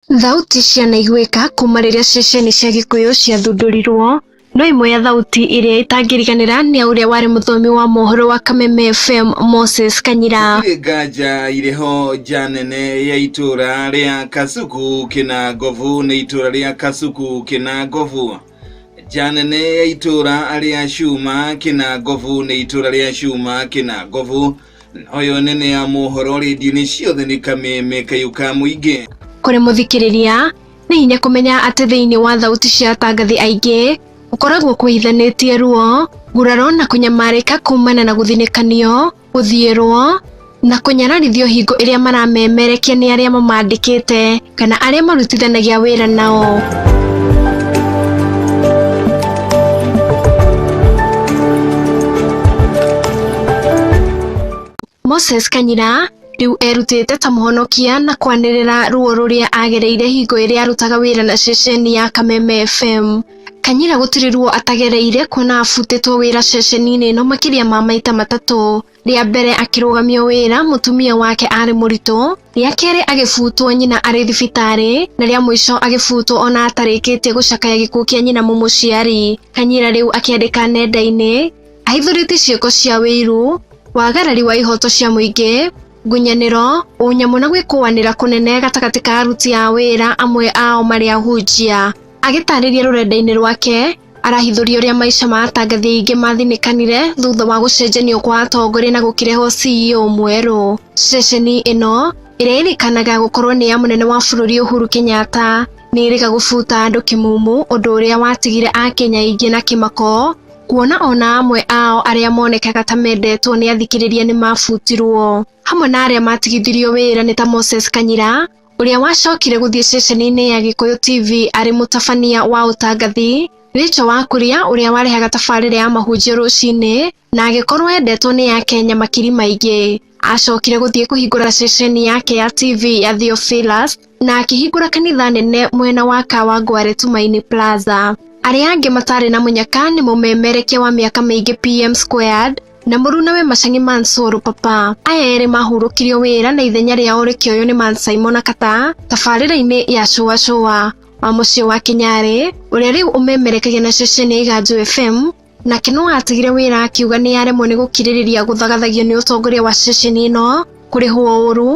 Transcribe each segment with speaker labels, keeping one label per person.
Speaker 1: Thauti cianaiguĩka kuma rĩrĩa ceceni cia Gĩkũyũ ciathundũrirwo, no ĩmwe ya thauti ĩrĩa ĩtangĩriganĩra nĩ ya ũrĩa warĩ mũthomi wa mohoro wa Kameme FM Moses Kanyira. Gũtirĩ nganja irĩ
Speaker 2: ho nja nene ya itũra rĩa Kasuku Kĩnangobu nĩ itũra rĩa Kasuku Kĩnangobu. Nja nene ya itũra rĩa Cuma Kĩnangobu nĩ itũra rĩa Cuma Kĩnangobu. Noyo nene ya mohoro rĩndiũ-inĩ ciothe nĩ kameme kayu ka mũingĩ. Kũrĩ mũthikĩrĩria,
Speaker 1: nĩ hinya kũmenya atĩ thĩinĩ wa thauti cia atangathi aingĩ gũkoragwo kwĩhithanĩtie ruo, nguraro na kũnyamarĩka kuumana na gũthinĩkanio, gũthiĩrwo, na kũnyararithio hingo ĩrĩa maramemerekia nĩ arĩa mamandĩkĩte. kana arĩa marutithanagia wĩra nao. Moses Kanyira rĩu erutĩte ta mũhonokia na kwanĩrĩra ruo rũrĩa agereire hingo ĩrĩa arutaga wĩra na ceceni ya Kameme FM. Kanyira gũtirĩ ruo atagereire kuona abutĩtwo wĩra ceceni-inĩ ĩno makĩria ma maita matatũ. Rĩa mbere akĩrũgamio wĩra mũtumia wake arĩ mũritũ, rĩa kerĩ agĩbutwo nyina arĩ thibitarĩ, na rĩa mũico agĩbutwo ona atarĩkĩtie gũcakaya gĩkuũ kĩa nyina mũmũciari. Kanyira rĩu akĩandĩka nenda-inĩ ahithũrĩtie ciĩko cia wĩiru, wagarari wa ihoto cia mũingĩ, ngunyanĩro, ũnyamũ na gwĩkũanĩra kũnene gatagatĩ ka aruti a wĩra amwe ao marĩ ahunjia. Agĩtarĩria rũrenda-inĩ rwake, arahithũria ũrĩa maica ma atangathi aingĩ mathinĩkanire thutha wa gũcenjanio kwa atongoria na gũkĩrehwo CEO mwerũ. Ceceni ĩno ĩrĩa ĩrĩkanaga gũkorwo nĩ ya mũnene wa bũrũri Uhuru Kenyatta nĩ ĩrĩga gũbuta andũ kĩmumu ũndũ ũrĩa watigire Akenya aingĩ na kĩmako kuona ona amwe ao arĩa monekaga ta mendetwo nĩ athikĩrĩria nĩ mabutirwo hamwe na arĩa matigithirio wĩra nĩ ta Moses Kanyira ũrĩa wacokire gũthiĩ ceceni-inĩ ya Gĩkũyũ TV arĩ mũtabania wa ũtangathi, Rĩcho wa Kuria ũrĩa warehaga tabarĩra ya mahunjio rũcinĩ na agĩkorwo endetwo nĩ a Kenya makiri maingĩ. Acokire gũthiĩ kũhingũra ceceni yake ya TV ya Theophilus na akĩhingũra kanitha nene mwena wa Kawangware Tumaini Plaza. Arĩa angĩ matarĩ na mũnyaka nĩ mũmemerekia wa mĩaka mĩingĩ PM Squared, na mũru na we macang'e mansoro papa aya erĩ mahurũkirio wĩra na ithenya rĩao rĩkĩoywo nĩ man simon akata tabarĩra-inĩ ya cũa cũa wa mũciĩ wa kinyarĩ ũrĩa rĩu ũmemerekagia na ceceni ya iganjũ fm nake no atigire wĩra akiuga nĩ aremwo nĩ gũkirĩrĩria gũthagathagio nĩ ũtongoria wa ceceni ĩno kũrĩhwo ũru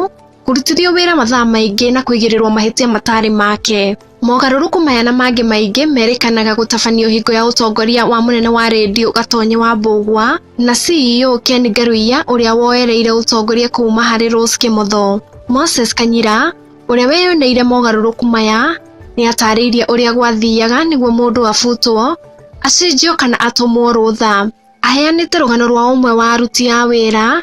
Speaker 1: kũrutithio wĩra mathaa maingĩ na kũigĩrĩrwo mahĩtia matarĩ make. Mogarũrũku maya na mangĩ maingĩ merĩkanaga gũtabanio hingo ya ũtongoria wa mũnene wa redio Gatonye wa Mbũgwa na CEO Ken Ngaruiya ũrĩa woereire ũtongoria kuuma harĩ Rose Kĩmotho. Moses Kanyira ũrĩa weyoneire mogarũrũku maya nĩ atarĩirie ũrĩa gwathiaga nĩguo mũndũ abutwo, acenjio kana atũmwo rũtha. Aheanĩte rũgano rwa ũmwe wa aruti a wĩra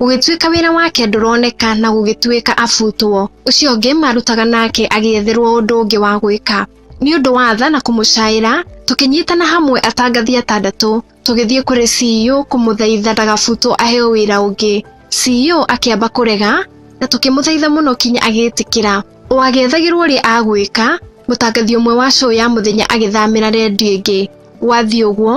Speaker 1: Gũgĩtuĩka wĩra wake ndũroneka na gũgĩtuĩka abutwo, ũcio ũngĩ marutaga nake agĩetherwo ũndũ ũngĩ wa gwĩka. Nĩ ũndũ wa tha na kũmũcaĩra, tũkĩnyitana hamwe atangathi atandatũ, tũgĩthiĩ kũrĩ CEO kũmũthaitha ndagabutwo aheo wĩra ũngĩ. CEO akĩamba kũrega, na tũkĩmũthaitha mũno kinya agĩtĩkĩra. O agĩethagĩrwo ũrĩa agwĩka, mũtangathi ũmwe wa show ya mũthenya agĩthamĩra rendio ĩngĩ. Gwathiĩ ũguo,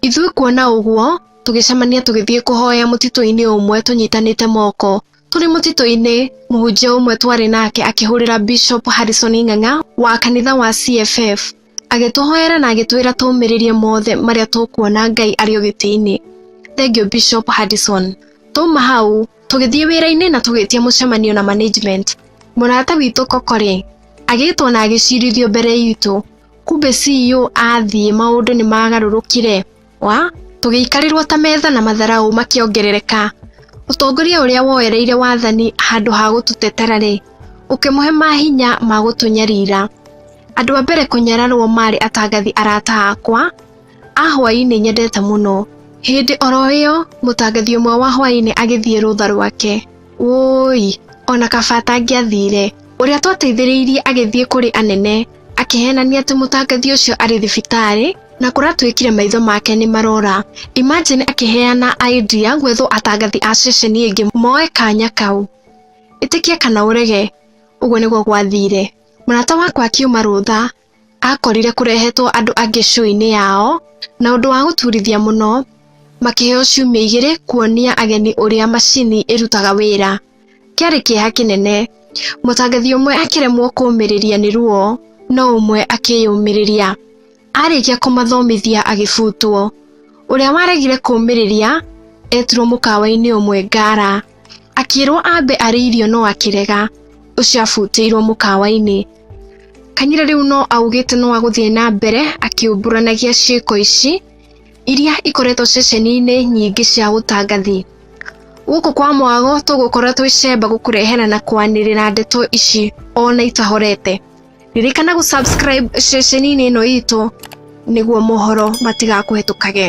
Speaker 1: Ithuĩ kuona ũguo, tũgĩcemania tũgĩthiĩ kũhoya mũtitũ-inĩ ũmwe tũnyitanĩte moko. Tũrĩ mũtitũ-inĩ, mũhunjia ũmwe twarĩ nake akĩhũrĩra Bishop Harrison Ing'ang'a wa kanitha wa CFF. Agĩtũhoera na agĩtwĩra tũũmĩrĩrie mothe marĩa tũkuona Ngai arĩ o gĩtĩ-inĩ. Thengiũ Bishop Harrison. Twauma hau, tũgĩthiĩ wĩra-inĩ na tũgĩtia mũcemanio na management. Mũrata witũ Kokore agĩtwo na agĩcirithio mbere itũ. Kumbe CEO athiĩ maũndũ nĩ magarũrũkire wa tũgĩikarĩrwo ta metha na matharaũ makĩongerereka. Ũtongoria ũrĩa woereire wathani handũ ha gũtũtetera rĩ, ũkĩmũhe mahinya ma gũtũnyarira. Andũ a mbere kũnyararwo marĩ atangathi arata akwa a hwaĩ-inĩ nyendete mũno. Hĩndĩ oro ĩyo mũtangathi ũmwe wa hwaĩ-inĩ agĩthiĩ rũtha rwake. Wũi, ona kaba atangĩathire. Ũrĩa twateithĩrĩirie agĩthiĩ kũrĩ anene. Akĩhenania atĩ mũtangathi ũcio arĩ thibitarĩ na kũratwĩkire maitho make nĩ marora. Imagine akĩheana idea gwethwo atangathi a ceceni ĩngĩ moe kanya kau. Ĩtĩkie kana ũrege, ũguo nĩguo gwathire. Mũrata wakwa akiuma rũtha, akorire kũrehetwo andũ angĩ show-inĩ yao, na ũndũ wa gũturithia mũno, makĩheo ciumia igĩrĩ kuonia ageni ũrĩa macini ĩrutaga wĩra. Kĩarĩ kĩeha kĩnene. Mũtangathi ũmwe akĩremwo kũũmĩrĩria nĩ ruo, no ũmwe akĩyũmĩrĩria. Arĩkia kũmathomithia agĩbutwo. Ũrĩa waregire kũũmĩrĩria etirwo mũkawa-inĩ ũmwe Ngara. Akĩrwo ambe arĩe irio no akĩrega. Ũcio abutĩirwo mũkawa-inĩ. Kanyira rĩu no augĩte no agũthiĩ na mbere akĩũmburanagia ciĩko ici. iria ikoretwo ceceni-inĩ nyingĩ cia ũtangathi. Gũkũ kwa mwago tũgũkorwo twĩ cemba gũkũrehera na kwanĩrĩra ndeto ici ona itahorete. Ririkana gũ subscribe ceceni-inĩ ĩno itũ nĩguo mohoro matigakũhetũkage.